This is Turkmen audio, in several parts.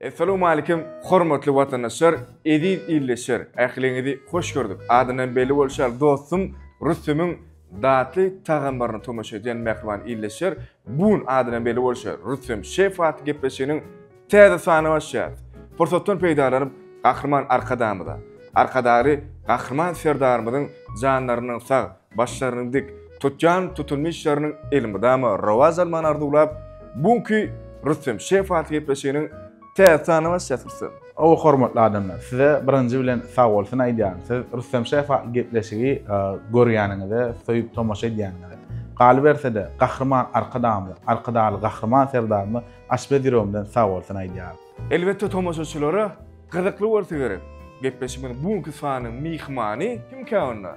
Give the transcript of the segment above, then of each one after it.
Essalowmalikim hormatly watandaşlar, eziz ildeşler, ähliňizi hoş gördük. Adyndan belli bolşy ýaly dostum Rüsümiň datly tagamlaryny tomaşa edýän mähriban ildeşler, Bu gün adydan belli bolşy ýaly, Rüstem şef atly gepleşiginiň täze sanyny açýarys. Pursatdan peýdalanyp, Gahryman Arkadagymyza, Arkadagly Gahryman Serdarymyzyň janlarynyň sag, başlarynyň dik, tutýan tutumly işleriniň elmydama rowaç almagyny arzuwlap, bu günki Rüstem şef atly gepleşiginiň Täze tanybaş ýatyrsyň. Hawa hormatly adamlar, size birinji bilen sag bolsun aýdýaryn, siz Rüstem şef atly gepleşigi görýäniňize, söýüp tomaşa edýäniňize. Galyberse-de, Gahryman Arkadagymyza, Arkadagly Gahryman Serdarymyza açbet ýüregimden sag bolsun aýdýaryn. Elbetde tomaşaçylara gyzykly bolsa gerek, gepleşigimiziň bu günki sanynyň myhmany kimkä onda?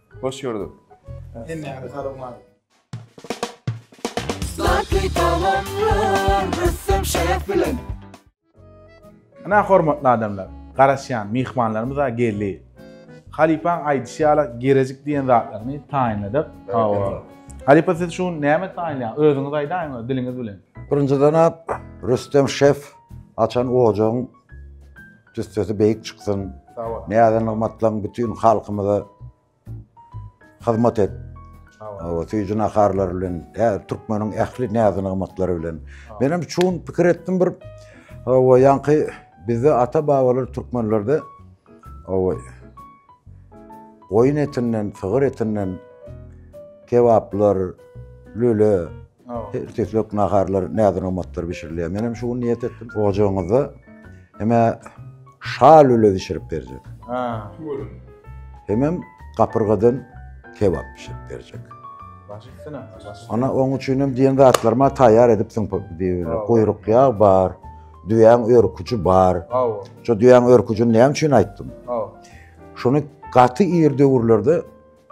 Hoş gördük. Hemmäňize salowmaz. Sladkiý tagamlar Rüstem şef bilen. Ynha hormatly adamlar, garaşýan myhmanlarymyz-a geldi. Halypaň aýdyşy ýaly girejik diýen zatlaryny taýynladyk. Hawa. Halypa siz şu gün näme taýynlaýaň? Özüňiz aýdaýyň diliňiz bilen. Birinjiden-ä Rüstem şef açan ojagyň Cüssesi beýik çyksyn. Sag bol. Näze nygmatlaň bütin halkymyza hyzmat et. Sag bol. Hawa, süýji naharlar bilen, ä, türkmeniň ähli näze nygmatlary bilen. Men hem çuň pikir etdim bir. Hawa, ýaňky bizde ata-babalar türkmenlerde hawa goýun etinden, sygyr etinden kebaplar, lüle, Ertirlik naharlar, näzir-omatlar bişirilýär. Men hem şu gün niýet etdim, ojagyňyzda hemä şa lüle bişirip berjek. Ha, görün. Hemem gapyrgadan kebap bişirip berjek. Ana oň üçin hem diýen zatlaryma taýýar edipsiň diýip, guýruk ýag bar, düýäň örküji bar. Hawa. Şu düýäň örküjini näme üçin aýtdym? Hawa. Şuny gaty ir döwürlerde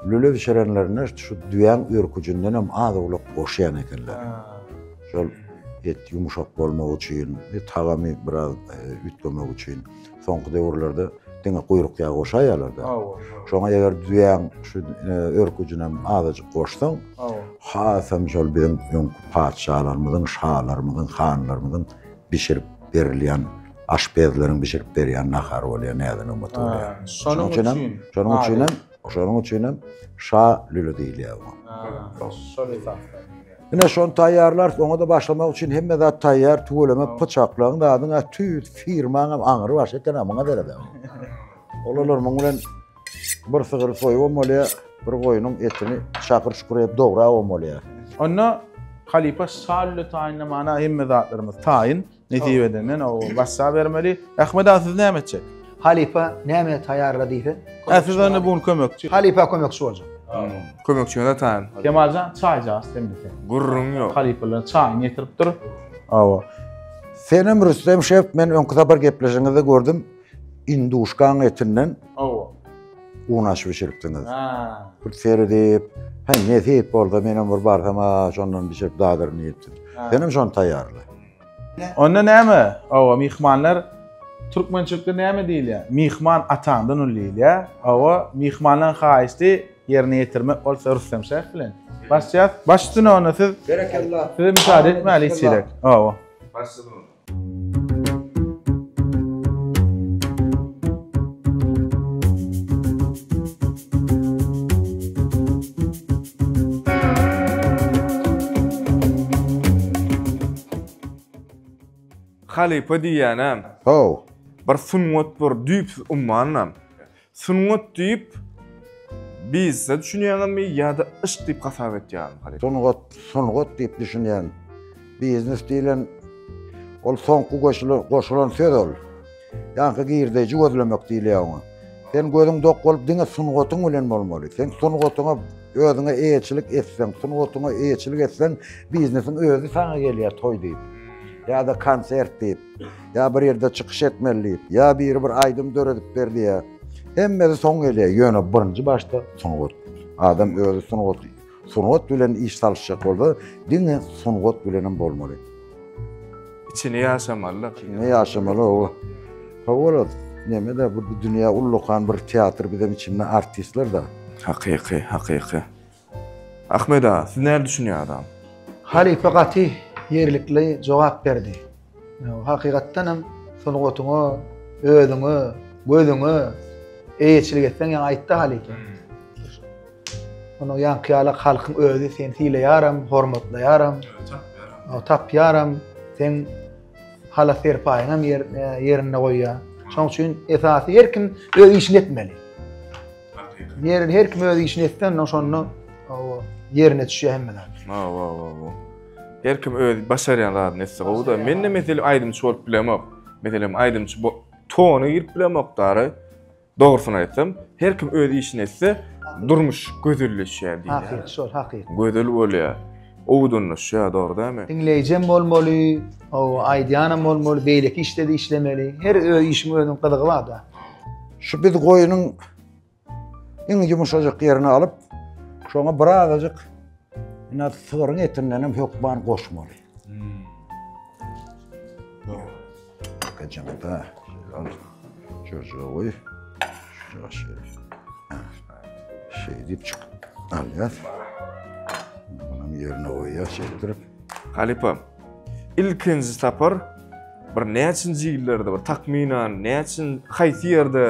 Lüle bişirenlerinde şu düýäň örküjindenem az-owlak goşýan ekenler. Şol et ýumşak bolmagy üçin, tagamy biraz üýtgemegi üçin. Soňky döwürlerde diňe guýruk ýagy goşaýýarlar-da. Şoňa eger düýäň şu örküjinem azajyk goşsaň, hasam şol biziň öňki patyşalarymyzyň, şalarymyzyň, hanlarymyzyň bişirip berilýän, aşpezleriň bişirip berýän nahary bolýar, näzanygym oturýar. Şonuň üçinem, şonuň üçinem Şonuň üçin hem şa lüli diýilýär oňa. Ha, şol esasda. Ine şony taýýarlarys, oňa da başlamak üçin hemme zat taýýar, tüweleme pyçaklaň zadyň a tüýs firmaň hem aňry baş eken a muňa derede. Olalar muň bilen bir sygyr soýup hem bolýar, bir goýnuň etini şakyr şukur edip dograp hem bolýar. Onda halypa şa lüli taýynlamana hemme zatlarymyz taýyn, Nesibede men o wassa bermeli. Ahmet aga siz näme etjek? Halypa näme taýýarla diýse. Hä siz onda bugün kömekçi. Halypa kömekçi boljak. Kömekçiňe de taýyn. Kemaljan çaý jaýyş sen bize. Gürrüň ýok. Halypalar çaýyny getirip dur. Awa. Senem Rüstem şef men öňki sapar gepleşiňizde gördüm. Induşkaň etinden. Awa. Un aşy bişiripdiňiz. Ha. Bir seredip, hä nesip bolsa menem bir barsam, a şondan bişirip dadyryn diýipdim. Senem şony taýýarla. Onda näme? Awa, myhmanlar türkmençilikde näme diýilýär? Myhman ataňdan uly diýilýär. Awa, myhmanlaryň haýyşty ýerine ýetirmek bolsa Rüstem şäh bilen. Başlaýas. Başlsyn onda siz. Berekella. Size müsaade etmäli hiç gerek. Awa. Başlsyn onda. Halypa diýýänem. How. Bir sungat bir düýpsüz ummanam. Sungat diýip bizde düşünýäňizmi ýa-da yşk diýip hasap etýäňizmi halypa? Sungat, sungat diýip düşünýän. Biznes diýlen ol soňky goşulan, goşulan söz ol. Ýaňky girdeýji gözlemek diýilýär oňa. Sen gözüň dok bolup diňe sungatyň bilen bolmaly. Sen sungatyňa özüňe eýeçilik etseň, sungatyňa eýeçilik etseň, biznesiň özi saňa gelýär toý diýip. Ýa-da konsert diýip, ýa bir ýerde çykyş etmeli diýip, ýa biri bir aýdym döredip ber diýýär. Hemmesi soň gelýär, ýöne birinji başda sungat. Adam özi sungaty Sungat bilen iş salyşjak bolsa, diňe sungat bilenem bolmaly. Içini ýaşamaly-da. Içini ýaşamaly, owa. Howala, neme-de, bu dünýä ullakan bir teatr, bizem içinde artistler-de. Hakyky, hakyky. Ahmet aga, siz näme düşünýäňiz? Halypa gaty ýerlikli jogap berdi. Hakykatdan hem sungatyňa, özüňe, gözüňe eýeçilik etseň ýa aýtda halypa. Hmm. Onuň ýanky ýaly halkyň özi seni sileýäram, hormatlaýaram. Tapýaram. Tapýaram. Sen hala serpaýyň hem ýer, e, ýerinde goýýa. Şoň üçin esasy her kim öz işini etmeli. Ýerini her kim öz işini etsen, ondan şonda ýerine düşýär hemmeler. Wa wa wa wa. Her kim öz başarýan zadyny etse gowy-da. Men-de meselem aýdymçy bolup bilemok. Meselem aýdymçy bo tona girip bilemok dara. Dogrusyny aýtsam, her kim öz işini etse, durmuş gözelleşýär diýýär. Hakyky şol, hakyky. Gözel bolýar. Owdanlaşýar, dogry dälmi? Diňleýjem bolmaly, hawa, aýdýanam bolmaly, beýleki işde-de işlemeli. Her öz işiň özüniň gyzygy bar-da. Şu biz goýunyň Iň ýumuşajyk ýerini alyp, şoňa bir azajyk ina sygyryň etinden hem hökman goşmaly. Hmm. Bakajaň da, al. Jürjüge goý. Şuna şeýle. Şeýdip çyk. Alýas. Bunun ýerine goýýas, şeýdirip. Halypam, ilkinji sapar bir näçinji ýyllarda bir takmynan näçin haýsy ýerde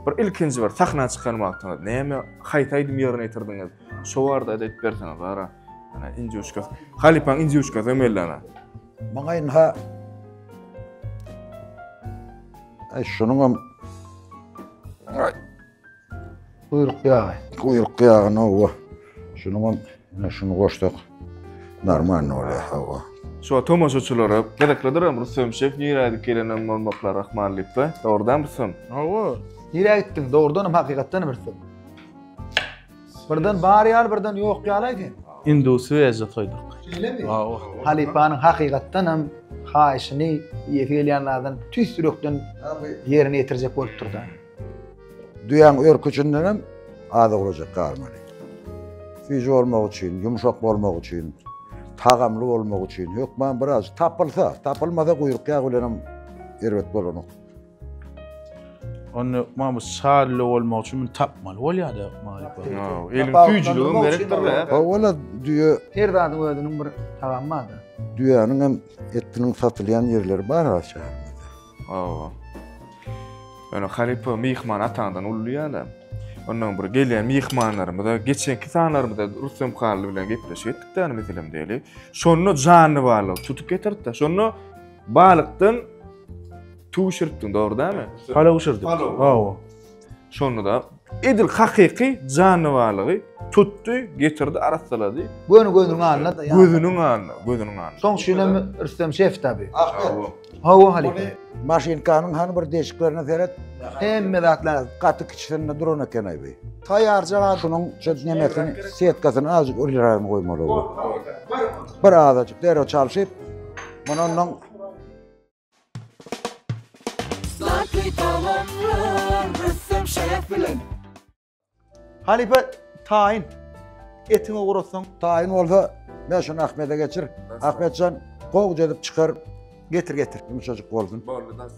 bir ilkinji bir sahna çykan wagtyňyz näme haýsy aýdym ýerine ýetirdiňiz şo barada aýdyp berseňiz bara ana injuşka halypaň injuşka zemellana maňa inha şunuň hem Guýruk ýagy. Guýruk ýagy nowa. Şunuňam ine şuny goşsak normalny bolýar hawa. Şo tomaşaçylara gyzyklydyram Rüstem şef nirä gidip gelenem bolmaklar ahmal diýipba. Dogrudanam Rüstem? Hawa. Nirä gitdiň? Dogrudanam hakykatdanam Rüstem. Birden bar ýaly birden ýok ýalaý sen. Indi swejda soýduk. Şeýlemi? Hawa. Halypanyň hakykatdanam haýyşyny iýesi gelýän zadyn tüýs ýürekden ýerine ýetirjek bolupdyr-da. Düýäň örküçinden hem az owlajak galmaly. Süýji bolmak üçin, ýumşak bolmak üçin, tagamly bolmak üçin hökman biraz tapylsa, tapylmasa guýruk ýagy bilen hem erbet bolanok. Onda hökman bu şally bolmak üçin bunu tapmaly bolýar-da hökman. Ýa, Eliň süýjüligi gerekdir-de. Ha, ola düýe Her zadyň özüniň bir tagamy bar-da. düýäniň hem etiniň satylýan ýerleri bar ha şäherimizde. Hawa. Ýöne halypa myhman ataňdan uly ýa-da. Ondan bir gelýän myhmanlarymyza geçenki sanlarymyzda Rustem Hally bilen gepleşik etdik däl meselem diýeli. Şonda janly balyk tutup getirdi. Şonda balykdan tüwşüripdiň, dogry dälmi? Palaw bişirdik. Hawa. Şonda-da edil hakyky janywarlygy tutdy, getirdi, arassalady. Göni gözüniň alnyna daýandy. Gözüniň alnyna, gözüniň alnyna. Soň üçin hem Rüstem şef tabi. Ahmet. Hawa, halypa. Maşynkanyň hany bir deşiklerine seret. Hemme zatlar gaty kiçisinde duran eken-aý bi. Taýarja gatynyň şu nemesini, setkasyny azajyk ulyragyny goýmaly bu. Bir azajyk derrew çalşyp, mundan Halypa taýyn etiňi ugratsaň. Taýyn bolsa men şuny Ahmede geçir. Ahmetjan gowja edip çykar. Getir getir. Ýumşajyk bolsun. Boldy, nasıl?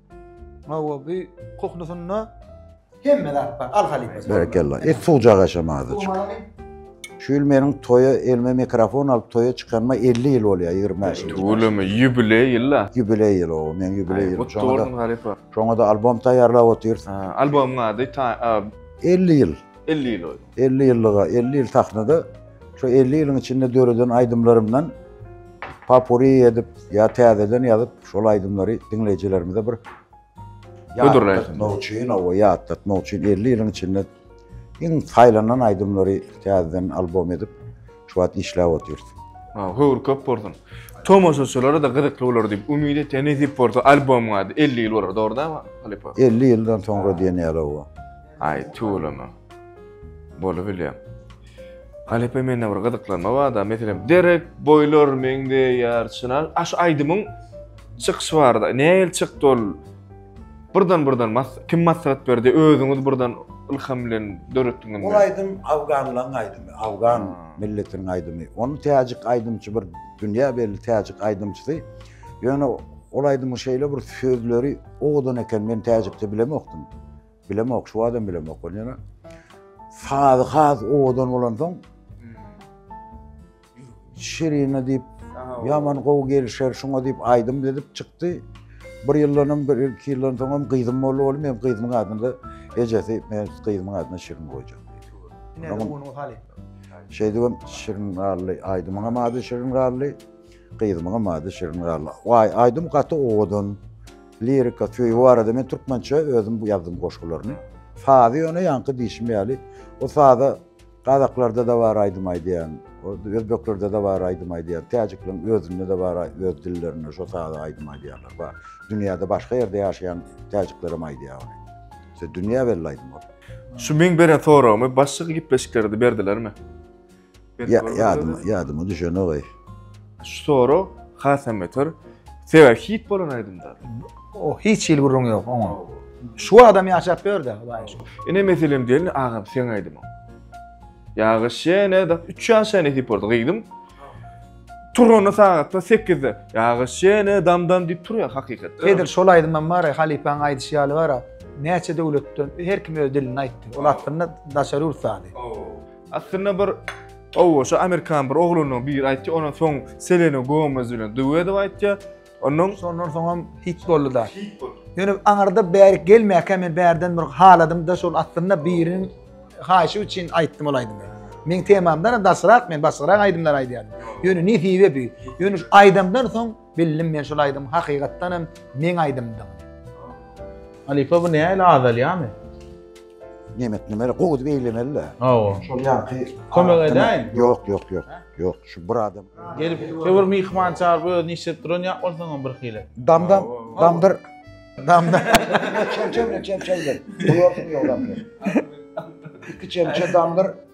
Hawa, bi kuhnusynda hemme zat bar. Al halypasy. Berekella. Et suwjak aşam azajyk. Şu ýyl meniň toýa elime mikrofon alyp toýa çykanyma 50 ýyl bolýar, 25 ýyl. Tüweleme, ýubileý ýyl-a. Ýubileý ýyl o, meniň ýubileý ýylym. Gutly bolsun halypa. Şoňa-da albom taýýarlap otyrys. Albomyň ady ta 50 ýyl. 50 ýyl ol. 50 ýyllyga, 50 ýyl sahnada, şo 50 ýylyň içinde döreden aýdymlarymdan popuri edip, ýa täzeden ýazyp, şol aýdymlary diňleýjilerimize bir Hödürleýin. ýatlatmak üçin, owa, ýatlatmak üçin 50 ýylyň içinde iň saýlanan aýdymlary täzeden albom edip, şu wagt işläp otyrys. Ha, höwür köp bolsun. Tomaşaçylara-da gyzykly bolar diýip umyt etýän nesip bolsa albomyň ady 50 ýyl bolar, dogry dämi halypa? 50 ýyldan soňra diýen ýaly, owa. Aý tüweleme. Bolubilýär. Halypa mende bir gyzyklanma barda, meselem derek boýlar meňzeýär çynar. A şu aýdymyň çykyşy barda. Nähili çykdy ol? Birden birden mas kim maslahat berdi? Özüňiz birden ylham bilen döretdiňizmi? Ol aýdym afganlaryň aýdymy, afgan milletiniň aýdymy. Ony täjik aýdymçy bir dünýä belli täjik aýdymçysy. Ýöne ol aýdymyň şeýle bir sözleri owadan eken, men täjikçe bilemokdym. Bilemok, şu adam bilemok ol ýene. Sazy has owadan bolan soň Şirine diýip ýaman gowy gelişer şuňa diýip aýdym edip çykdy. Bir ýyldan hem bir iki ýyldan soň hem gyzym boldy oğlum hem gyzymyň adyny da ejesi men gyzymyň adyny Şirin goýjak. Ne onuň hali. Şeýdip hem Şirin galdy. Aýdymyň hem ady Şirin galdy. Gyzymyň hem ady Şirin galdy. Waý aýdym gaty owadan. Lirika, söýgi barada men türkmençe özüm bu ýazdym goşgularyny. Sazy ýöne ýaňky diýşim ýaly, o saza gazaklarda-da bar aýdym aýdýan, özbeklerde-de bar aýdym aýdýan, täjikleriň özünde-de bar öz dillerinde şo saza aýdym aýdýanlar bar. Dünýäde başga ýerde ýaşaýan täjikler hem aýdýar ony. Şo dünýä belli aýdym ol. Şu meň beren soragymy başga gepleşiklerde berdilermi? Ýadyma, ýadyma düşenok-aý. Şu sorag hasam beter. Sebäbi hit bolan aýdymlar. O hiç hili gürrüňi ýok oňa. Şu adam ýaşap ýör-de, waý şu. Ine meselem diýeli agam seň aýdymyň. Ýagyş ýene da 3 ýaşa ýene hit boldy gyzym. Turanda sagatda 8-de. Ýagyş ýene damdan diýip turýar hakykat. Edil şol aýdymam bar, halypaň aýdyşy ýaly bar. Näçe döwletden her kim öz dilinde aýtdy. Ol aslynda daşary ýurt sazy. Aslynda bir Owo, şu amerikan bir oglunyň biri aýtdy, ondan soň Selena Gomez bilen duet edip aýtdy. Ondan şondan soň hem hit boldy-da. Hit boldy. Ýöne aňyrda bärik gelmäkä men bärden bir haladym-da, şol aslynda biriniň haýyşy üçin aýtdym ol aýdymy. Meň temamdan daşrak men başgarak aýdymlar aýdýardym. Ýöne nesibe bu. Ýöne şu aýdymdan soň Bildim men şul aýdym hakygatdan hem meň aýdymdygyny. Halypa bu näle azalýamy? Nemet nimere gowy edip eýlemeli de. Hawa. Şol ýaňky Kömek edäýin. Ýok, ýok, ýok. Ýok, şu bir adam. Gelip, şu bir myhman çagyryp özüni işletip duran ýa bolsaňam bir hili. Damdan, damdyr. Damdan. Çemçe bilen çemçe bilen. Goýarsyň ýolam. Iki çemçe damdyr.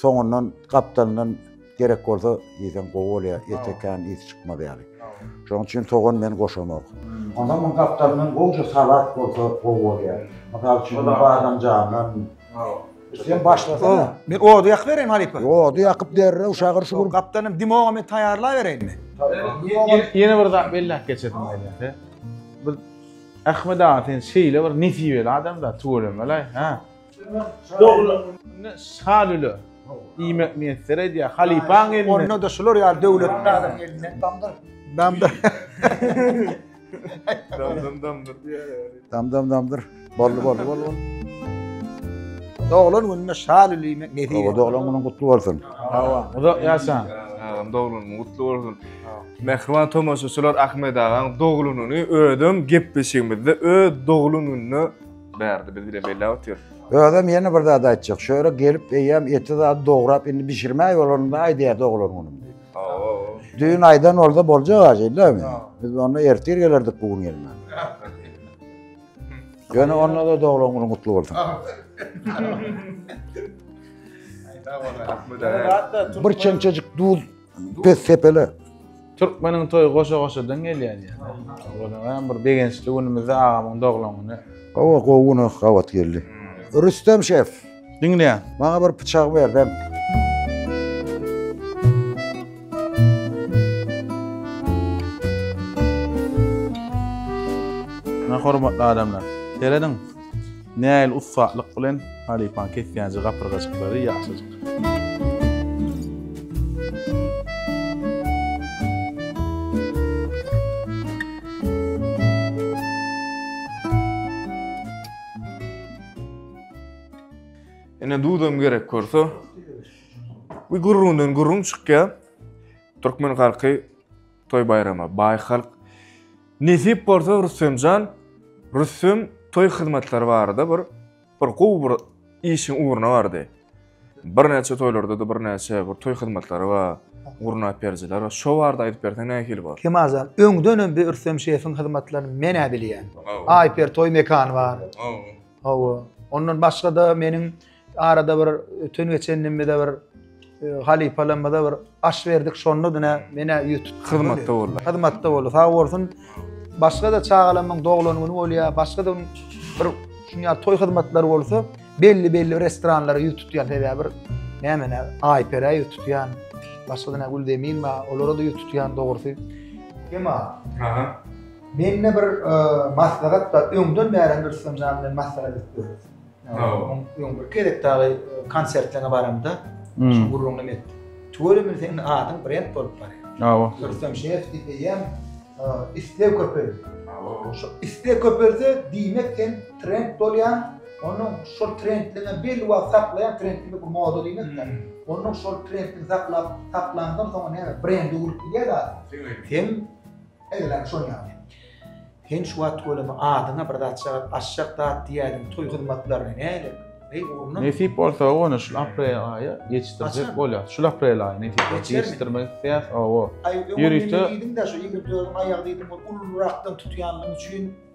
Soňundan gapdalyndan gerek bolsa iýseň gowy bolýar, ete kän ys çykmaz ýaly. Şonuň üçin sogan men goşamok. Onda muň gapdalyndan gowja salat bolsa gowy bolýar. Mysal üçin badamjandan. Sen başlasana. Men ody ýakyp bereýinmi halypa? Ody ýakyp derrew şagyr şugur. Gapdalyndan dimoga men taýýarlabereýinmi? Ýene bir zat belläp geçedim aýdasy. Biz Ahmet aga sen şeýle bir nesibeli adamda tüweleme-laý, hä? Dogry. Indi Şalyly diýmek miýesser edýär. Halypaň elinde. Onda-da şular ýaly döwletli adam elinde. Damdyr. Damdyr. Damdam damdyr diýýär. Damdam damdyr. Boldy, boldy, boldy, boldy. Doglan gününe Şalyly diýmek nesip etsin. Doglan günüň gutly bolsun. Hawa. Uzak ýaşaň. Agam doglan günüň gutly bolsun. Mähriban tomaşaçylar Ahmet agaň doglan güni özem gepleşigimizde öz doglan gününe Bärde biz bile belläp otyrys. Özem ýene bir zat aýtjak. Şöyle gelip eýýäm eti zat dograp indi bişirmäý bolanynda aýdýar doglan günüm diýip. Düýn aýdan bolsa boljak aýdýarmy? Biz onda ertir gelerdik bu gün gelmän. Ýöne onda da doglan günüň gutly bolsun. Bir çemçejik duz Pes sepele. Türkmeniň toýy goşa goşadan gelýär ýaly. Onuň hem bir begençli günümizde agamyň doglan güni. Hawa gowy gün ah, gabat geldi. Rüstem şef. Diňleýän. Maňa bir pyçak ber ben. Hormatly adamlar. Serediň. Nähili ussatlyk bilen halypaň kesýänje gapyrgajyklary ýaşajyk. Ene duzam gerek görse. Bu gurrundan gurrun çykýar. Türkmen halky toy baýrama baý halk. Nesip bolsa Rüstemjan Rüstem toý hyzmatlary barada bir bir gowy bir işiň ugruna bardy. Birnäçe toýlarda-da birnäçe bir toý hyzmatlary bar, gurnap berijiler bar. Şo barada aýdyp berseň nähili bolar? Kemal jan, öňden hem bir Rüstem şefiň hyzmatlaryny men-ä bilýän. Aýper toý mekany bar. Hawa. Ondan başga-da meniň Arada bir öten geçenimizde bir e, halypalarymyza bir aş berdik. Şonda dine mene ýüz tutdy. Hyzmatda boldy. Hyzmatda boldy. Sag bolsun. Başga da çagalarymyň doglan güni bolýar. Başga da bir şuňa toý hyzmatlary bolsa belli belli restoranlara ýüz tutýan sebäbi bir näme ne Aýperä ýüz tutýan. Başga da Güldemin bar. Olara da ýüz tutýan dogrusy. Kema, Aha. mende bir e, maslahat bar. Öňden bäri bir symjan bilen maslahat edip görüp. Öň bir gezek dagy konsertlerine baramda, şu gürrüňi men etdim. Tüweleme seniň adyň brend bolup barýar. Hawa. Rüstem Şeýerow diýýän isleg köpeldi. Şu isleg köpelse, diýmek sen trend bolýaň, onuň şol trendini belli wagt saklaýan, trend diýmek bu moda diýmek-dä. Onuň şol trendini saklap, saklandan soň näme, brendi urup gidýär zat. Sen Eýlem şol ýaly. Sen şu wagt welin adyňa bir zat çagyryp, aşjak zat diýäýdiň, toý hyzmatlaryny nälik? Heý, urnuň! Nesip bolsa, ony şul aprel aýy ýetişdirjek bolýas. Şul aprel aýy nesip bolsa ýetişdirmek isleýäs, hawa. Aý, öňem indi diýdiň-dä, şu iňňirtleriň aýagy diýdiň, ol ulurakdan tutýanlygyň üçin,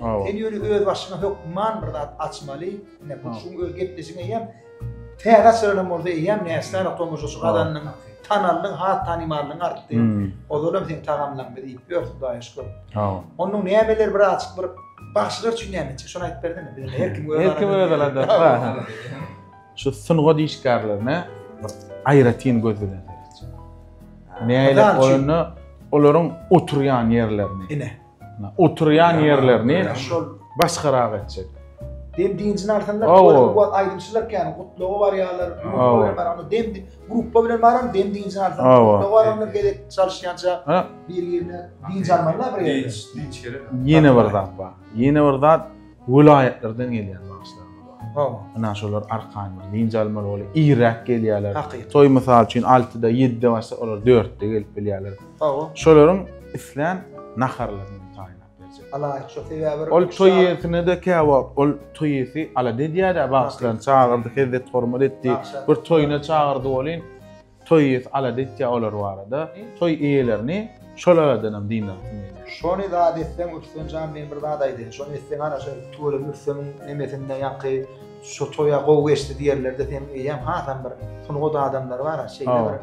Sen ýöne öz başyňa hökman bir zat açmaly. Ine bu şuň öz gepleşiň eýem täze açylan bolsa eýem näsler otomobil şu gazanyň tanaldyň ha tanymallygyň artdy. Hmm. Ozalam sen tagamlaň biz iýip ýör Hudaýa şükür. Ha. Onuň nämeler bir açyk bir bagşylar üçin näme etjek şony aýdyp berdiňmi? Biz her kim öz Her kim öz alanda. Şu sungat işgärlerine bir aýratyn göz bilen seretjek. Näle oýunda olaryň oturýan ýerlerini. Ine. Oturýan ýerlerini başgarak etjek. Dem diňjini alsanda bu aýdymçylar kän gutlawa barýarlar. Bar dem gruppa bilen baram dem diňjini alsam. Gutlawa baramlar gezek çalyşýança bir ýerine diňji almalylar bir ýerine. Diňç gerek. Ýene bir zat bar. Ýene bir zat Welaýatlardan gelýän bagşylarymyz bar. Howwa. Ynha şolar arkaýyn bir dynç almaly bolýar. Irräk gelýärler. Hakyt. Toý mysal üçin altyda, ýedide başlap, olar dörtde gelip bilýärler. Howwa. Şolaryň islän naharlaryny hem taýynlap berjek. Alaýyk şo sebäbi bir. Ol toý ýesine-de käwagt ol toý ýesi ala-da edýär-ä bagşylaryny çagyrdy, hezzet-hormat etdi. Bagşa. Bir toýuna çagyrdy welin, Toý iýesi alada etýär olar barada. Toý iýelerini şol aladan hem dyndansyn diýýär. Şony zat etseň ötsen jan men bir zat aýdaýyn şony etseň ana şo tüweleme üfseň nemesinde ýaňky şo toýa gowy geçdi diýerlerde seniň eýäň hasam bir sungat adamlary bar a şeýle bir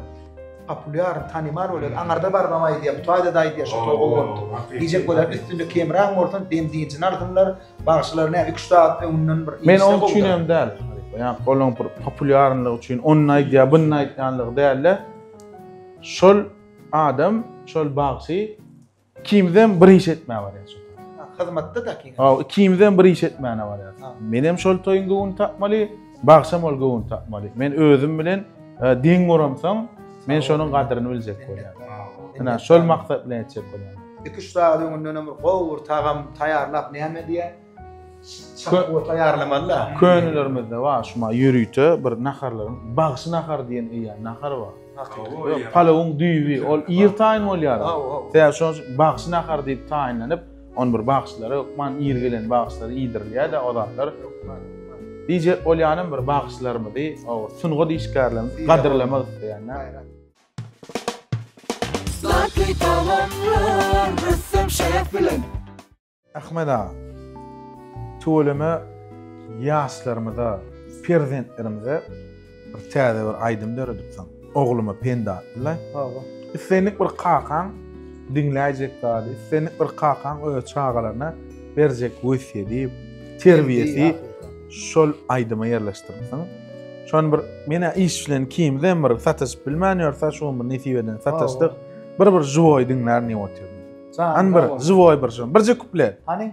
populýar tanymal bolýar aňarda barybam aýdýar bu taýda-da aýdýar şo toý gowy bolupdyr diýjek bolar üstünde kemraň bolsun benzin jyn alsynlar Bagşylar näme 3 saat öňünden bir Men onuň üçin hem däl. Ýa golaň bir populýarlyk üçin ony aýdýar, bunu aýdýanlygy däl-de. Şol adam, şol bagşy kimden bir iş etmä barýar. Hyzmatda da kim? Ha, kimden bir iş etmäne barýar. Men hem şol toýuň göwün tapmaly. Bagşam ol göwün tapmaly. Men özüm bilen e, deň bolamsoň, men şonuň gadyryny biljek bolýan. Ina, şol maksat bilen etjek bolýan. Iki üç sagat öňünden hem gowy bir tagam taýýarlap näme diýen? Çakgo taýýarlamaly da. Könelermizde bar şuma ýörite bir naharlaryň bagşy nahar diýen eýýäm nahar bar. Palawyň düýbi ol ir taýyn bolýar. Sebäbi şonuň üçin bagşy nahar diýip taýynlanyp, On bir bagşylara hökman ir gelen bagşylara iýdirilýär-dä o zatlar. Dije bolýanam bir bagşylarymyzy, sungat işgärlerimizi gadyrlamak isleýänler. Zlatyý tagamlar rüstem şef bilen. Ahmet aga, tüweleme ýaşlarymyza, perzentlerimize Bir täze bir aýdym döredipsiň. Ogluma pende atdyla. Hawa. Islendik bir kakaň diňläýjek zady, islendik bir kakaň öz çagalaryna berjek wesýedi, terbiýesi şol aýdyma ýerleşdiripsiň. Şony bir menä iş bilen kimizem bir sataşyp bilmän ýörse, şu gün bir nesip eden sataşdyk. Bir bir żywoý diňlärin diýip otyryn. Hany bir żywoý bir şony. Birje kuplet. Hany?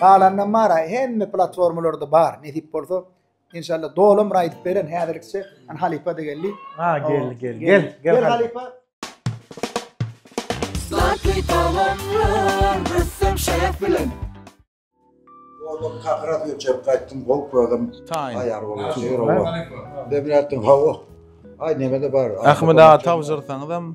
Galanynam bar a hemme platformalarda bar nesip bolsa inşallah dolam bir aýdyp beren häzirlikçe an halypa da geldi a geldi geldi gel gel halypa Zlatly tagamlar ressam şef bilen Oğlum kakırak yürçep kayttım, bol koydum. Ayar oğlum, seyir oğlum. Demir attım, hava. Ay neme de var. Ahmet ağa tavşırsanız hem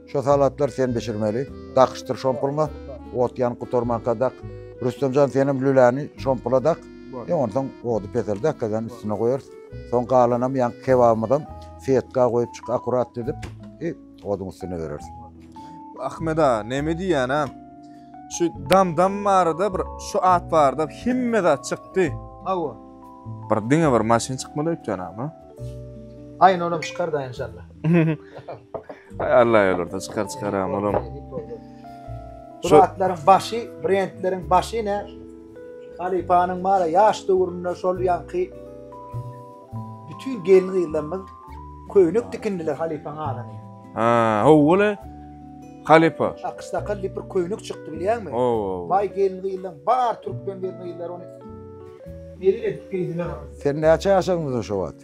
Şo salatlar sen bişirmeli. Dakyşdyr şompulňa, ot ýanyp gutarmanka dak. Rüstem jan senem lüläni şompula dak. Bar. Ýa onsoň ody peseldäk gazanyň üstüne goýarys. Soň galanam ýaňky kebabymyzam setga goýup çyk akurat düzüp i oduň üstüne bereris. Ahmet aga neme diýýän a? Şu dam dam barada bir şu at barada hemme zat çykdy. Hawa. Bir diňe bir maşyn çykmaly öýtýän agam a? Aýna onam çykar da enşalla. Ay Allah yolurda çıkar çıkar ağam oğlum. Bu Şu- zatlaryň başy, brendleriň başy ne? Halifanyň mara yaş döwründe şol ýanky bütün gelin gyzlarymyz köýnek dikindiler halifanyň adamy. Ha, howule. Halifa. Akys sakal diýip bir köýnek çykdy bilýärmi? Oo. Bay gelin gyzlaryň bar türkmen gelin gyzlary ony Neri edip giydiler onu. Sen näçe yaşaňdyň şu wagt?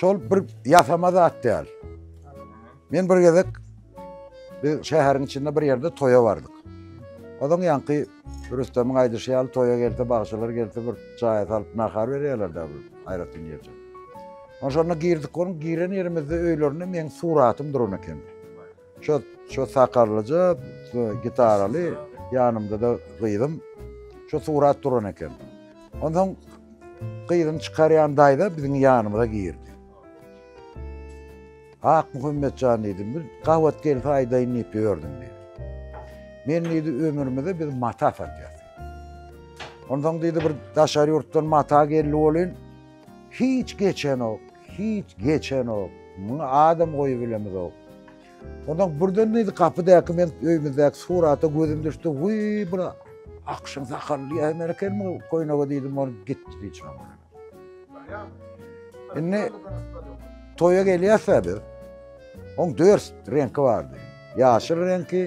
Şol bir ýasama zat däl. Men bir gezek bir şäheriň içinde bir ýerde toýa bardyk. Ozaň ýanky Rüstemiň aýdyşy ýaly toýa gelse, bagşylar gelse bir çaýa salyp nahar berýärler da bir aýratyn ýerde. Onşonda girdik, onuň giren ýerimizde öýlerinde meniň suratym duran eken. Şo şo sakallyja gitaraly ýanymda-da gyzym şo surat duran eken. Onsoň gyzyny çykarýan daýza biziň ýanymyza girdi. Ak Muhammetjan diýdim, bir gabat gelse aýdaýyn diýip ýördüm diýdi. Men diýdi ömrümde biz mata satýas. Onsoň diýdi bir daşary ýurtdan mata geldi welin Hiç geçenok, hiç geçenok. Muňa adam goýubilemizok. Ondan birden neydi kapydaky men öýmüzdäki surata gözüm düşdi. Wiý, bir akşam sakally ýaýman ekenmi köýnege diýdim, ony gitdi diýjek. Indi toýa gelýäs biz. Oň dört reňki bardy. Ýaşyl reňki,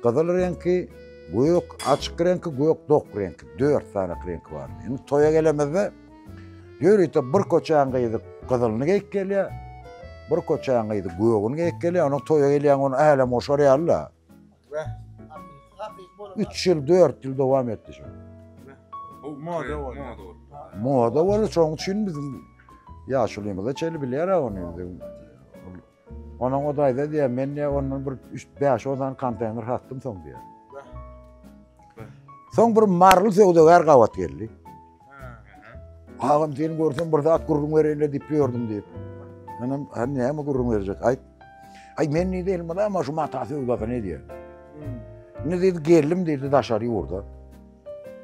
gyzyl reňki, gök, açyk reňki, gök dok reňki. Dört sany reňki bardy. Indi toýa gelemizde Ýörite bir köçäň gyzy gyzylyny geýip gelýär, bir köçäň gyzy gögüni geýip gelýär, onuň toýa gelýän gün älem goşar ýaly-la. Üç ýyl, dört ýyl dowam etdi şu. Moda boldy. Moda boldy, şoň üçin biziň ýaşulymyza çenli bilýär-ä ony. Onam o daýza diýýär, men diýýär, ondan bir üç, bäş, on sany konteýner satdym soň diýýär. Soň bir marly söwdagär gabat geldi. Agam seni görsem bir zat gürrüň bereýinle diýip ýördüm diýip. Menem, ha näme gürrüň berjek? Aýt. Aý men diýdi, elmada ama şu mata söwdasyny edýär. Indi diýdi, geldim diýdi daşary ýurda.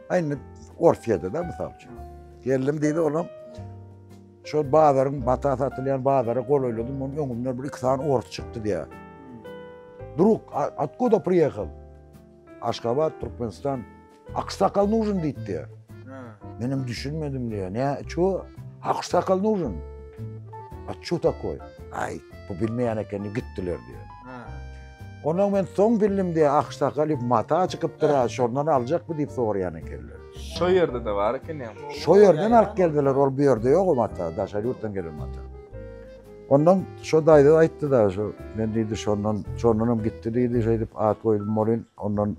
Aý indi Orsiýada da mysal üçin. Geldim diýdi, olam Şol bazaryň mata satylýan bazara golaýladym, onuň öňümden bir iki sany ors çykdy diýýär. Drug, atkuda priýehal? Aşgabat, Türkmenistan. Aksakal nužin diýdi. Men hem düşünmedim diýýär. Ne, ço? Aksakal nužin. A ço takoý? Aý, bu bilmeýän ekeni gitdiler diýýär. Ondan men soň bildim diýýär, aksakaly mata çykypdyr-a, şondan aljak bu diýip soraýan ekenler. Şo ýerde-de bar eken ýa. Şo ýerden alyp geldiler, ol bu ýerde ýok o mata, daşary ýurtdan gelen mata. Ondan şo daýza aýtdy-da, şo men diýdi, şondan, şondanam gitdi diýdi, şeýdip at goýdum bolin, ondan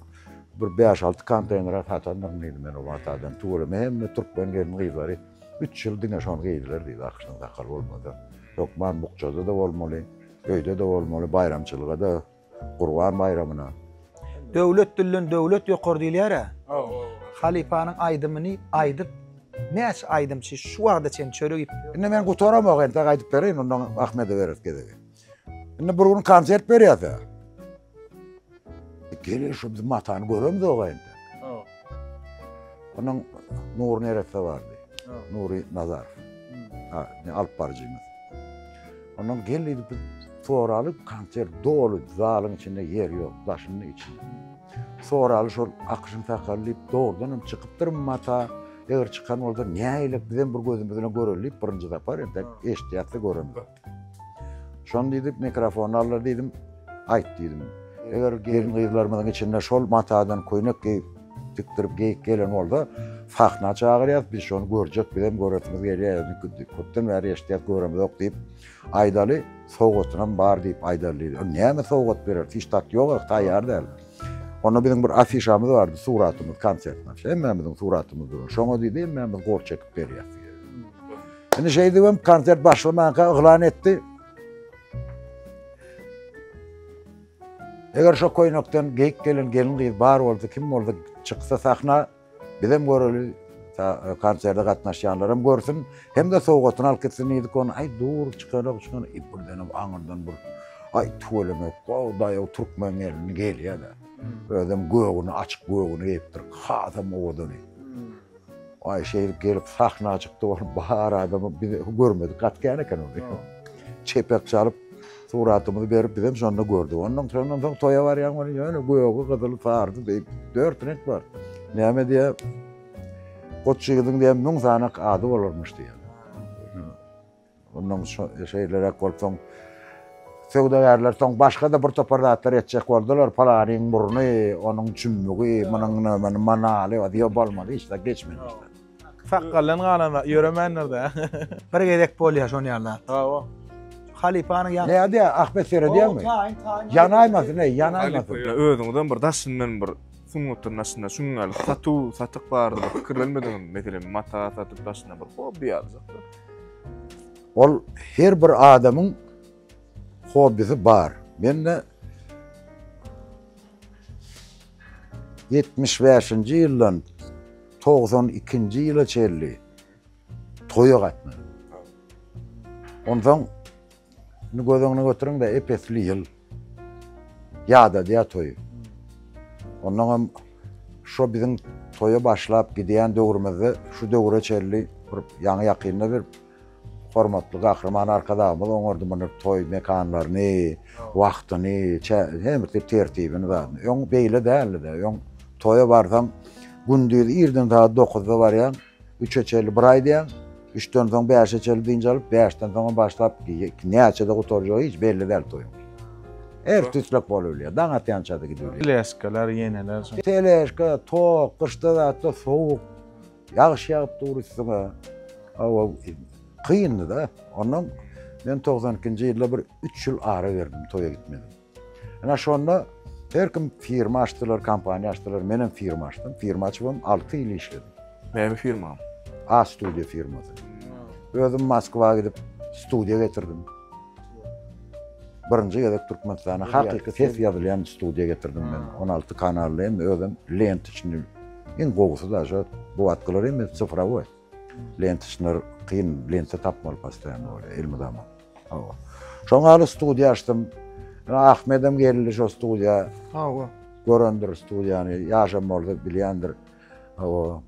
bir bäş-alty konteýnere satandyryn diýdi men o matadan. Tüweleme hemme türkmen gelin-gyzlary üç ýyl diňe şony geýdiler diýdi, akyşdan sakgal bolmasa. Hökman bukjada-da bolmaly, öýde-de bolmaly, baýramçylyga-da. Gurban baýramyna. Döwlet dilden döwlet ýokary diýilýärä. Halypanyň aýdymyny aýdyp näçe aýdymçy şu wagta çen çörek iýip. Indi men gutaramok entek aýdyp bereýin ondan Ahmede bereris gezegi. Indi bir gün konsert berýäs-ä. Gel-ä şu biziň Matany göremzok-a entek. Onuň Nury neresse bardy. Nury Nazar. Ha, ne alyp barjymyz. Onuň gel edip soraly konsert doly zalyň içinde yer yok, daşyny içi. Soraly şol akşam sakal diýip dogrudan hem çykypdyr mata. Eger çykan bolsa näýlek bizem bir gözümizden göreli diýip birinji sapar entek eşitýäs-de göremizok. Şony diýdip mikrofony aldylar diýdim. Aýt diýdim. Eger gelin-gyzlarymyzyň içinde şol matadan köýnek geýip, tikdirip geýik gelen bolsa, sahna çagyrýas, biz şony görjek, bizem göresimiz gelýär, indi köpden bäri eşidýäs, göremizok diýip aýdaly, sowgatynam bar diýip aýdaly diýdi. Ol näme sowgat berer, hiç zat ýok, taýýar däl. Onda biziň bir afişamyz bardy, suratymyz, konsertimiz, hemmämiziň suratymyz dur. Şoňa diýdi, hemmämiz gol çekip berýäs. Indi şeýdibem konsert başlamanka yglan etdi. Eger şu koýnakdan geýik gelen gelin gyz bar boldy, kim boldy, çyksa sahna, bizem göreli, e, konserde gatnaşýanlaram görsün, hem-de sowgatyny alyp gitsin diýdik ony. Aý, dur, çykarak, çykan, e, birdenem aňyrdan bir, aý, tüweleme, gow, daýaw, türkmen gelini gelýär-de. Özem göwni, açyk göwni geýipdir, hasam owadan. Aýşehir gelip sahna çykdy bar bar adamy biz görmedik gat kän eken ony. Çepek çalyp suratymyzy berip bizem şonda gördük. Ondan şondan soň toýa barýan ony ýöne gögi gyzyly sardy diýip dört reňk bar. Näme diýe Goç ýigidiň diýen müň sany ady bolarmyş diýen. Mundan şeýleräk bolup soň söwdagärler soň başga-da bir topar zatlar etjek boldular. Palanyň burny, onuň çümmügi, munuň nämäniň manaly, ýok bolmady, hiç zat geçmedi. Sakgaldan galan zat ýöremändir-dä. Bir gezek bolýar şon ýaly zat. Hawa. Halypanyň ýa. Nädýä, Ahmet seredýäňmi? Ýanaýmasyn, eý, ýanaýmasyn. Özüňizem bir daşyndan bir sungatyň daşynda şuň ýaly satuw, satyk barada pikirlenmediňizmi? Meselem, mata satyp daşyna bir hobby ýaly. Ol her bir adamyň hobbisi bar. Men-de 75-nji ýyldan 92-nji ýyla çenli toýa gatnadym. Onsoň göz öňüne götüriň-de, ep-esli ýyl. Ýadadýar toýy. Onnoň hem şo biziň toýa başlap gidýän döwrümizde şu döwre çenli bir ýaňy-ýakynda bir hormatly Gahryman Arkadagymyz oňardy munuň toý mekanlaryny, wagtyny, çä, her bir tertibini zadyny. Öň beýle däldi-de. Öň toýa barsaň, gündiz irden sagat dokuzda barýaň. Üçe çenli bir aý diýen, üçden soň bäşe çenli dynç alyp, bäşden soňam başlap, näçede gutarjagy hiç belli däl toýuň. Her tüýslük bolup bilýär, daň atýançada gidip bilýär. Teleşkalar, ýeneler şo. Teleşka, tok, gyşda zatda sowuk, ýagyş ýagyp dur üstüňe. Hawa, kyndy-da. Onnoň men togsan ikinji ýylda bir üç ýyl ara berdim, toýa gitmedim. Ine şonda her kim firma açdylar, kompaniýa açdylar, menem firma açdym. Firma açybam alty ýyl işledim. Näme firma? A studiýa firmasy. Özüm Moskwa gidip studiýa getirdim. Birinji gezek Türkmenistana hakyky ses ýazylýan studiýa getirdim men. 16 kanally hem özüm lent üçin iň gowusy da şu bu atkylar hem sifrowy. Lentişler kyn lente tapmaly postoýanno bolýar elmydama. Hawa. Şoň ýaly studiýa açdym. Ahmedem geldi şo studiýa. Hawa. Görendir studiýany, ýaşam bolsa bilýändir. Hawa.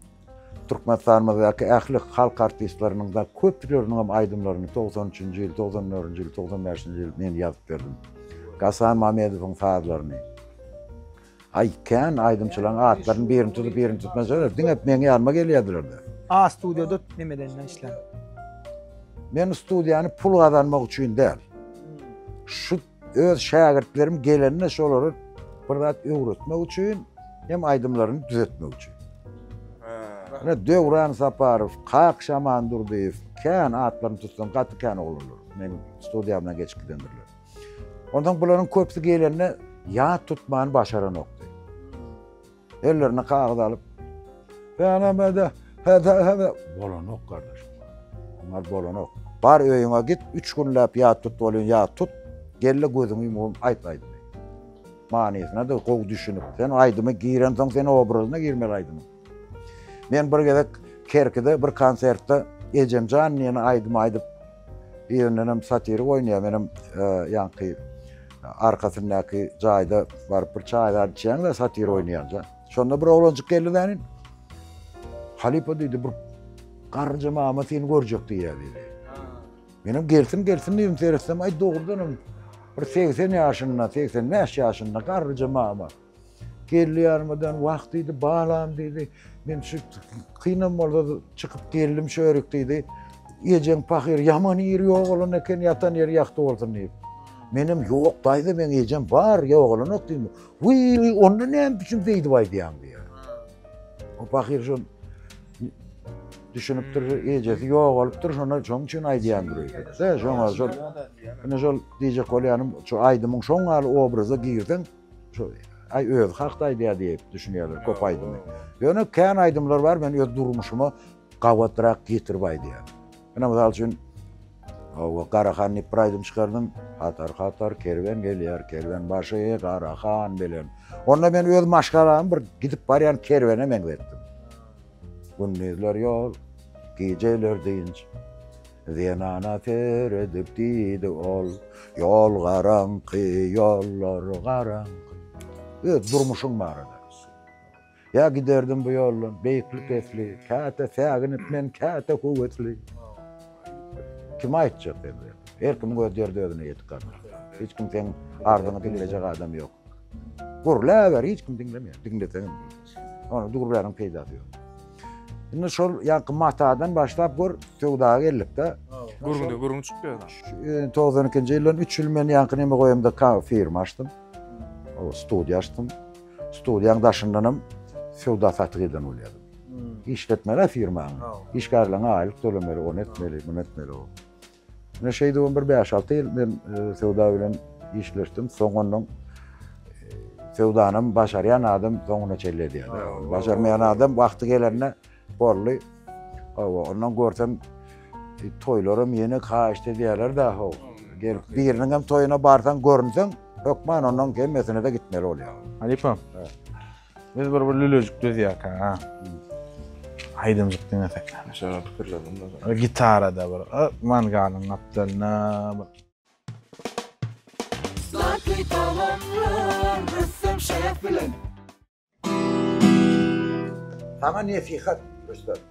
Türkmenistanymyzdaky ähli halk artistleriniň de köpleriniň hem aýdymlaryny 93-nji ýyl, 94-nji ýyl, 95-nji ýyl men ýazyp berdim. Gasan Mamedowyň sazlaryny. Aý kän aýdymçylaryň atlaryny birini tutup birini tutmasalar diňe meň ýanyma gelýärdilerda. A studiýada neme dende işlän. Men studiýany pul gazanmak üçin däl. Şu öz şägirtlerim gelende şolara bir zat öwretmek üçin hem aýdymlaryny düzetmek üçin. Ine Döwran Saparow, Kakşaman Durdyýew kän atlaryny tutsam gaty kän oglanlar meniň studiýamdan geçip gidendirler. Ondan bularyň köpüsi gelende ýat tutmany başaranokdy. Ellerine kagyz alyp, Bänemede, hede, hede, bolanok gardaş. Onlar bolanok. Bar öýüňe git, üç günläp ýat tut bolýan, ýat tut. Gelle gözüňi ýumum, aýt aýdymy. Manysyna da gowy düşünip, sen aýdymy giren soň sen obrazyna girmeli aýdymy. Men bir gezek Kerkide bir konsertde Ejem jan diýen aýdymy aýdyp, birinenem satirik oýnaýar, menem ýaňky arkasyndaky jaýda baryp bir çaý zad içýäň-de, satirik oýnaýanja. Şonda bir oglanjyk geldi-de nin, Halypa diýdi, bir garynja mama seni görjek diýýär diýdi. Menem gelsin gelsin diýdim, seretsem, aý dogrudanam bir 80 ýaşynda, 85 ýaşynda garynja mama. Geldi ýarmadan wah diýdi, balam diýdi. Men şu kynam bolsa çykyp geldim şörik diýdi. Ejeň pahyr ýaman ýeri ýok olan eken, ýatan ýeri ýagty bolsun diýip. Menem ýok daýza meň ejem bar, ýogalanok diýdim. Wiý, onda näme üçin beýdip aýdýaň diýýär. O pahyr şu düşünüpdir, ejesi ýogalypdyr, şonda şoň üçin aýdýandyr öýdüp. Şoňa şol, ine şol diýjek bolýanym, şu aýdymyň şoň ýaly obraza girseň, Şu aý özi hakda aýdýar diýip düşünýärler köp aýdymy. Ýöne kän aýdymlar bar men öz durmuşyma gabatrak getirip aýdýan. Ine mysal üçin Hawa, Garahan diýip bir aýdym çykardym. Hatar hatar kerwen gelýär, kerwen başy Garahan bilen. Onda men öz maşgalamy bir gidip barýan kerwene meňzetdim. Gündizler ýol, gijeler dynç. Zenana seredip diýdi ol, Ýol garaňky, ýollar garaňky. Öz durmuşyň barada. Ýa giderdim bu ýoldan, beýikli-pesli, Käte säginip men, käte höwesli. Kime aýtjak endi? Her kimiň öz derdi özüne ýetik gadyr. Hiç kim seň arzyňy diňlejek adam ýok. Gürläber, hiç kim diňlemeýär. Diňleseň hem diňlemeýär. Ony gürläniň peýdasy ýok. Indi şol ýaňky matadan başlap gör, söwda geldikde Gürgünde gürgün çykyp ýörler. e, 92-nji ýyldan 3 ýyl men ýaňky neme goýamda ka- firma açdym. O studiýa açdym. Studiýaň daşyndan hem söwda satyk eden bolýardym. Işletmeli firmany. Işgärleriňe aýlyk tölemeli, ony etmeli, muny etmeli. o. Ine şeýdibem bir bäş-alty ýyl men söwda bilen işleşdim. Soňundan söwdanam başarýan adam soňuna çenli edýär. Başarmaýan adam wagty gelende boldy. Hawa, ondan görsem toýlaram ýene haýyşt edýärler-de, haw. Gelip biriniň hem toýuna barsaň, görünseň, hökman onuň hemmesine-de gitmeli bolýar. Halypa. Biz bir bir lülejik düzýäk ha. Aýdymjyk diňesek. Şeýle pikirledim da. Gitarada bir mangalyň gapdalyna bir Slatky tagamlar rüstem şef bilen. Saňa nesihat, Rüstem.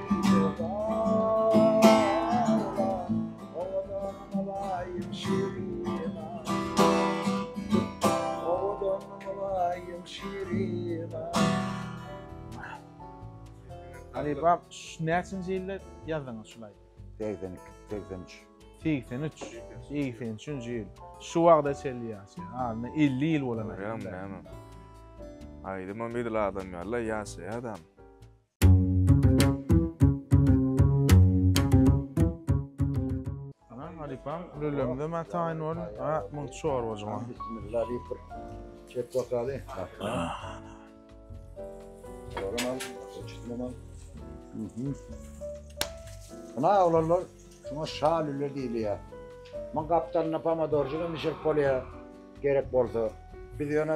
Alibaba şu näçinji ýylda ýazdyňyz şul aýdy? Segsen iki, segsen üç. Segsen üç, segsen üçünji ýyl. Şu wagta çenli ýaşaýan. Adyna elli ýyl bolan aýdym. Görýäňmi näme? Aýdymam edil adam ýaly-la ýaşaýar adam. Halypam, lülemde men taýyn bolun. Ha, muň çorbajyma. Bismillah diýip bir çek bakaly. Olam al, çitmem al. Buna oglanlar, şuna şa lüle diýilýär. Muň gapdalyna pomidorjyk hem bişirip bolýar, gerek bolsa. Biz ýöne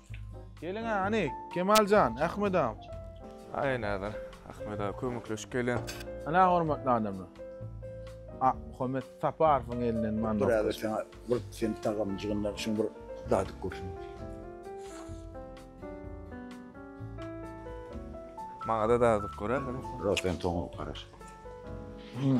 Geliň hany, Kemaljan, Ahmet agam. Aý näder, Ahmet aga kömekleşip gelen. Ana hormatly adamlar. A, Muhammet Saparowyň elinden man. Bir aga sen bir sen tagamjygyndan şuň bir dadyp görsün. Maňa da dadyp görä. Rosen toňup garaş. Hmm.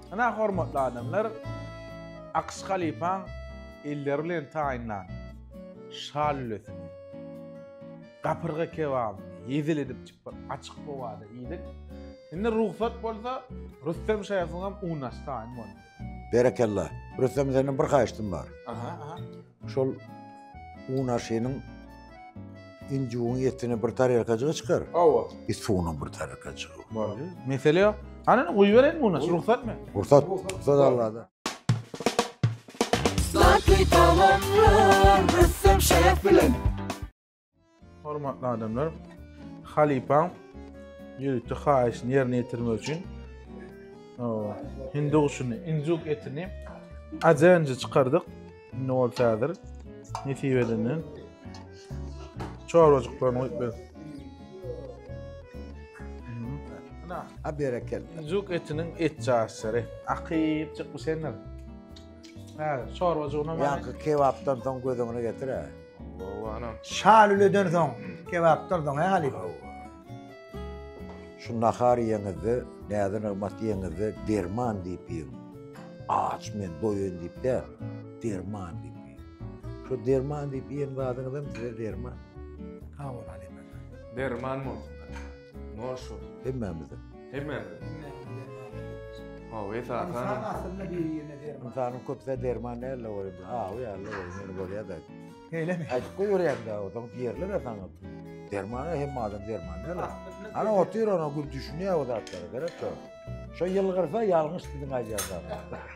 Ynha hormatly adamlar Akyş halypaň elleri bilen taýynlan şa lülesini, gapyrga kebabyny ýedil edip çypyr açyk howada iýdik. Indi rugsat bolsa Rüstem şefigem unaş taýyn boldy. Berekella. Rüstem senden bir haýyştym bar. Aha, aha. Şol un aşynyň injugyň etini bir tarelkajygy çykar. Hawa. Bir suwunyň bir tarelkajygy. Bar. Mesele ýok. Hany guýubereýin muny, rugsatmy? Rugsat, rugsat Allada. Slatky tagamlar ressam şef bilen. Hormatly adamlar, halypaň ýörite haýyşyny ýerine ýetirmek üçin hindi guşuny, injuk etini ajenji çykardyk. Indi ol täzir nesip edenden çorbajyklaryny goýup ber. A berekel. Injuk etiniň et jaýçary. Akyp çykmyş endir. Hä, çorbajygyna. Ýa kebapdan soň gözüňi getir-ä. Şalüleden soň kebap durduň he halypa. Şu nahar iýeňizde, näze nygmat iýeňizde derman diýip iýiň. Aç men, doýan diýip däl, derman diýip iýiň. Şu derman diýip iýen zadyňyzam size derman. Sag bol halypa. Derman bolsun. Morşo. Hemmämize. Hemmämize. Hawa, esasan. Ynsan aslynda bir ýerine derman. Ynsanyň köpüsi derman näle bolýar? Hawa, ýaly bolýar, ýene bolýar-da. Eýlemi? Aýdyp goýberýäň-dä, ozaň diýerler-ä saňa. Derman-a hemme adam derman näle? Ana otur, ana gür düşünýär o zatlara, gerek ýok. Şo ýylgyrsa ýalňyş biziň aýdýan zatymyz.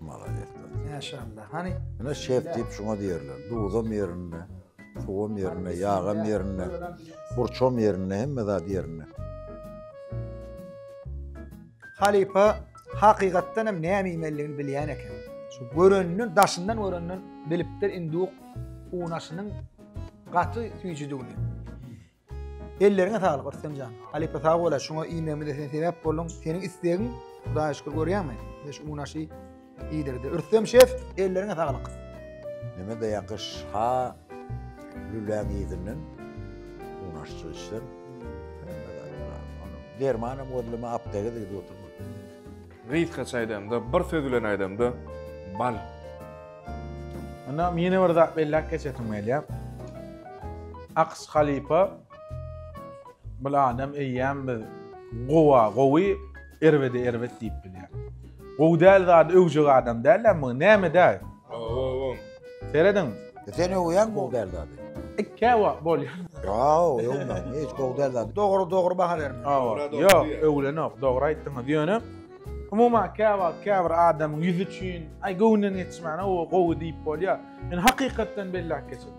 Malades. Maşallah. Hani Ine şef diýip şuňa diýerler. Duzam ýerinde, suwam ýerinde, ýagam ýerinde, burçam ýerinde, hemme zat ýerinde. Halipa hakykatdan hem näme iýmeliligini bilýän eken. Şu göreninden, daşyndan göreninden bilipdir induk unaşynyň gaty süýjüdigini. Elleriňe saglyk Rüstemjan. Halypa sag bol, şuňa iýmegimize sen sebäp bolduň. Seniň islegiň Hudaýa şükür görýäňmi? Biz şu unaşy iýdirdi. Rüstem şef, elleriňe saglyk. Neme daýan gyş ha lüläň ýerinden unaşçy içsem. Dermanam gözleme apteke gidip oturma. Gysgaça aýdanda, bir söz bilen aýdanda, bal. Ynha, ýene bir zat belläp geçesim gelýär. Akyş halypa bir adam eýýäm biz gowa gowy, erbede erbet diýip bilýär. Gowy däl zady öwjek adam däl-ä bu, näme däl? Ooo. Serediň. Sen öwýäň bu derdady. Käwa bolýar. Ýoo, öwme, hiç bu derdady. Dogry, dogry baha berin. Ýok, öwlenok, dogry aýtdyňyz. Ýöne umuman käwa käbir adamyň ýüzi üçin, aý göwünden geçmän, o gowy diýip bolýar. Men hakykatdan belläp geçerin.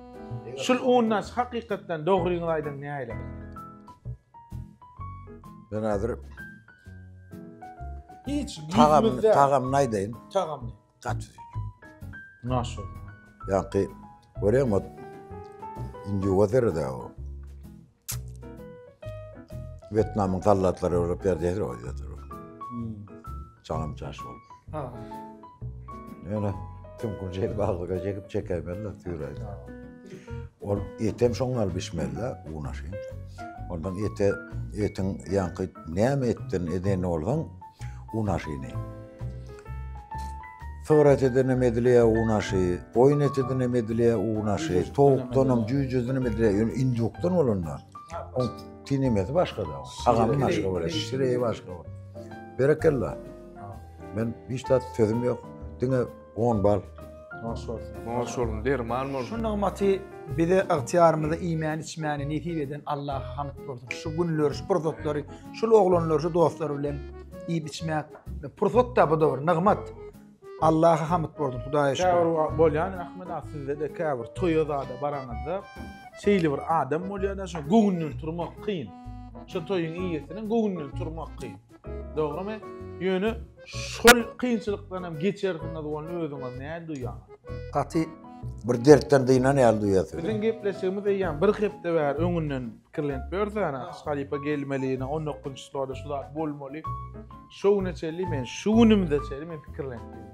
Şul undaş hakykatdan dogryňyzy aýdyň näile. Ben hazir Hiç ýüzümizde. Tagamyny aýdaýyn. Tagamyny. Gaty süýjüp. Naşo. Ýaňky görýäňmi ot. Indi ýuwa derede o. Wýetnamyň sallatlary bolup ýerde ýatyr o ýatyr. Hmm. Çaňam çaş bolup. Ha. Ýöne kim gurjel baglyga çekip çekämeli süýräýdi. Ol etem şoň gal bişmeli unaşy. Ondan ete etiň ýaňky näme etdin edeni bolsaň Unaşyny. Sygyrat edenem edilýä unaşy, goýun eti edenem edilýä unaşy, towukdanam, jüýjedenem edilýä, ýöne indukdan bolanda, o tinemesi başga-da. Agamy başga bolýa, şireýi başga bolýa. Berekella. Men hiç zat sözüm ýok. Diňe 10 bal. Hoş bolsun. Hoş bolsun. Derman bolsun. Şu nygmaty bize ygtyýarymyza iýmäni içmäni nesip eden Allaha hamd bolsun. Şu günleri, şu pursatlary, şul oglanlar, şu dostlar bilen iýip içmek pursat da bu da bir nygmat. Allaha hamd bolsun Hudaýa şükür. Käbir bolýan Ahmet aga sizde de käbir toýa zada baraňyzda şeýle bir adam bolýar da şu göwünden turmak kyn. Şu toýuň iýesiniň göwünden turmak kyn. Dogrymy? Ýöne şol kynçylykdanam geçersiňiz bolny özüňiz näl duýýaňyz? Gaty bir dertden dynan ýaly duýýarsyňyz. Biziň gepleşigimiz eýýäm bir hepde bäri öňünden pikirlenip ýörüs ýa ne halypa gelmeli ýa ne on dokuzynjy şularda şu zat bolmaly. Şo güne çenli men şu günümize çenli men pikirlenip ýörün.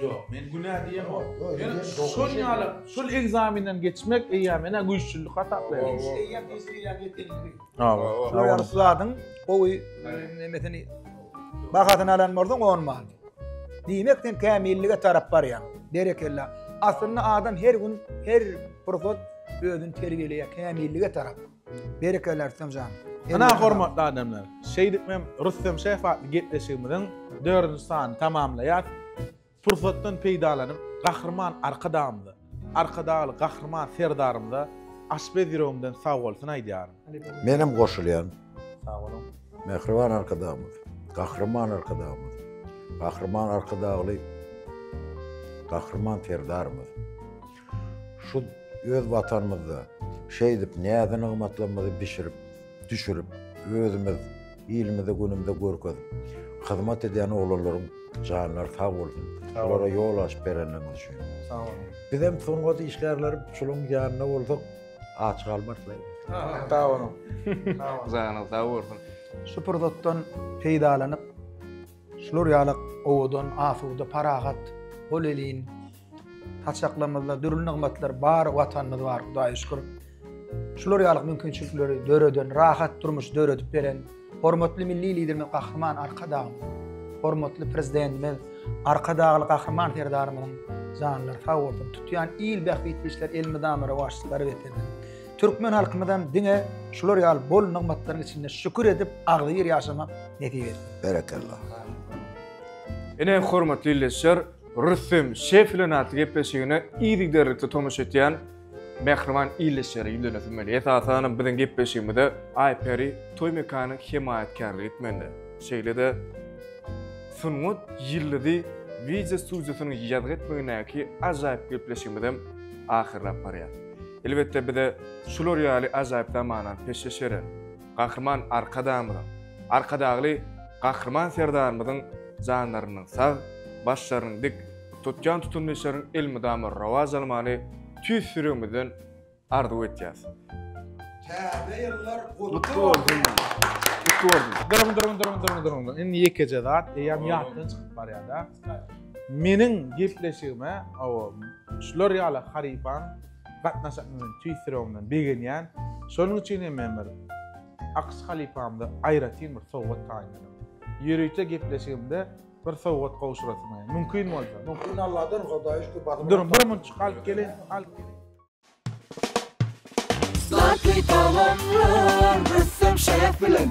Ýok, men günä diýemok. Men şol ýaly, şol ekzamenden geçmek eýýäm menä güýçlülik hasaplaýaryn. Şu eýýäm eşidilýän gepleriňi. Hawa, şolar ýaly zadyň gowy nemesini bahasyny alan bolsaň on bal. Diýmek sen kämillige tarap barýaň. Berekella. Aslynda adam her gün, her pursat özüni terbiýeleýär kämillige tarap. Berekella Artemjan. Ynha hormatly adamlar, şeýdip men Rüstem şef atly gepleşigimiziň dördünji sanyny tamamlaýas. Pursatdan peýdalanyp Gahryman Arkadagymyza, Arkadagly Gahryman Serdarymyza aşpez ýüregimden sagbolsun aýdýaryn. Menem goşulýan. Sag boluň. Mähriban Arkadagymyz, Gahryman Arkadagymyz, Gahryman Arkadagly Gahryman Serdarymyz. Şu öz Watanymyzda şeýdip näze-nygmatlarymyzy bişirip, düşürip, özümiz, ilimizi günümizde görkezip, hyzmat edýän oglanlaryň janlary sag bolsun, olara ýol açyp berenleriňiz üçin. Sag boluň. Bizem sungat işgärleri şularyň ýanynda bolsak, aç galmarys laý. Sag boluň. Sag boluň. Janyňyz sag bolsun. Şu pursatdan peýdalanyp, şular ýaly owadan, asuda, parahat, hol elin, Saçaklarymyzda dürli nygmatlar bar, Watanymyz bar, Hudaýa şükür. Şular ýaly mümkinçilikleri döreden, rahat durmuş döredip beren hormatly Milli Liderimiz Gahryman Arkadagymyz, hormatly Prezidentimiz Arkadagly Gahryman Serdarymyzyň janlary sag bolsun, tutýan il bähbitli işler elmydama rowaçlyklara getirsin. Türkmen halkymyzam diňe şular ýaly bol nygmatlaryň içinde şükür edip, agzybir ýaşamak nesip etsin. Berekella. Ine hormatly ildeşler, Rüstem şef bilen atly gepleşigine yzygiderlikli tomaşa etýän mähriban ildeşlere ýüzlenesim gelýär. Esasanam biziň gepleşigimize Aýperi toý mekany hemaýatkärlik etmende, şeýle-de Sungat ýyldyzy wideo studiýasynyň ýazgy etmegindäki ajaýyp gepleşigimiz hem ahyrlap barýar. Elbetde bize şular ýaly ajaýyp zamana peşgeş beren, Gahryman Arkadagymyzyň, Arkadagly Gahryman Serdarymyzyň janlarynyň sag, başlarynyň dik, tutýan tutumly işleriň elmydama rowaç almagyny tüýs ýüregimizden arzuw etýäris. Täze ýyllar gutly bolsun! Gutly bolsun! Duruň, duruň, duruň, duruň, duruň, duruň. Indi ýekeje zat eýýäm ýatdan çykyp barýar-da. Meniň gepleşigime, hawa, şular ýaly harypan gatnaşanymy men tüýs ýüregimden begenýän. Şonuň üçin hem men bir Akyş halypamda aýratyn bir sowgat taýynladym. Ýörite gepleşigimde bir sowgat gowşurasyma, mümkin bolsa. Mümkin Alladan, Hudaýa şükür badyr. Duruň, bir munçuk alyp geliň, alyp geliň. Zlatly tagamlar ressam şef bilen.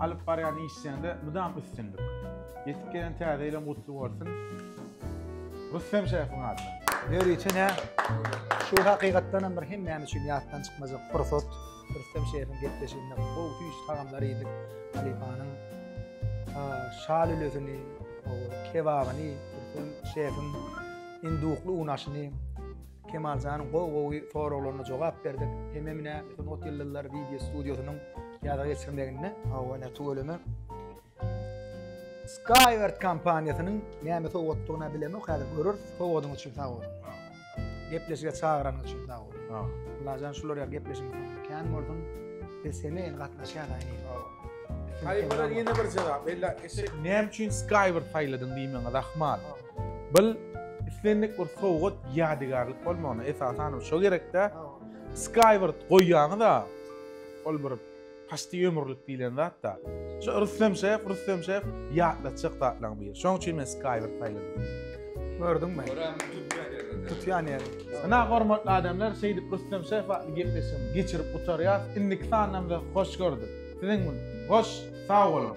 Alyp barýan işleriňde mydam üstünlik. Ýetip gelen täze ýylyň gutly bolsun. Rüstem şefin adyna. Ýörite ne? Şu hakykatdan hem bir hemmämiz üçin ýatdan çykmajak pursat. Rüstem şefin gepleşiginde gowy süýji tagamlar iýdik. Halypanyň şa lülesini, kebabyny, Rüstem şefin indukly un aşyny Kemaljanyň gowy-gowy soraglaryna jogap berdik. Hememine Sungat ýyldyzlary wideo studiýasynyň ýada geçirmeginde hawa ne tüweleme. Skyward kompaniýasynyň näme sowgatdygyny bilemok, häzir görür. Sowgadyň üçin sag bol. Gepleşige çagyranyň üçin sag bol. Ha. Lajan şular ýa gepleşiň. Kän bolsun. Biz seni el gatnaşýar aýy. Haýbara ýene bir jogap. Ella eşek näme üçin Skyward saýladyň diýmäňe rahmat. Bil islendik bir sowgat ýadygärlik bolmagyna esasan şo gerekde Skyward goýýaňyz-a ol bir paşty ömürlik diýlen zat-da. Şo Rüstem şef, Rüstem şef ýatlatjak zatlaryň biri. Şoň üçin men Skyward saýladym. Gördüňmi? Tutýan ýeri. Ina hormatly adamlar, şeýdip Rüstem şef atly gepleşigimi geçirip gutarýas. Indiki sanymyzy hoş gördük. Siziň hoş, sag boluň.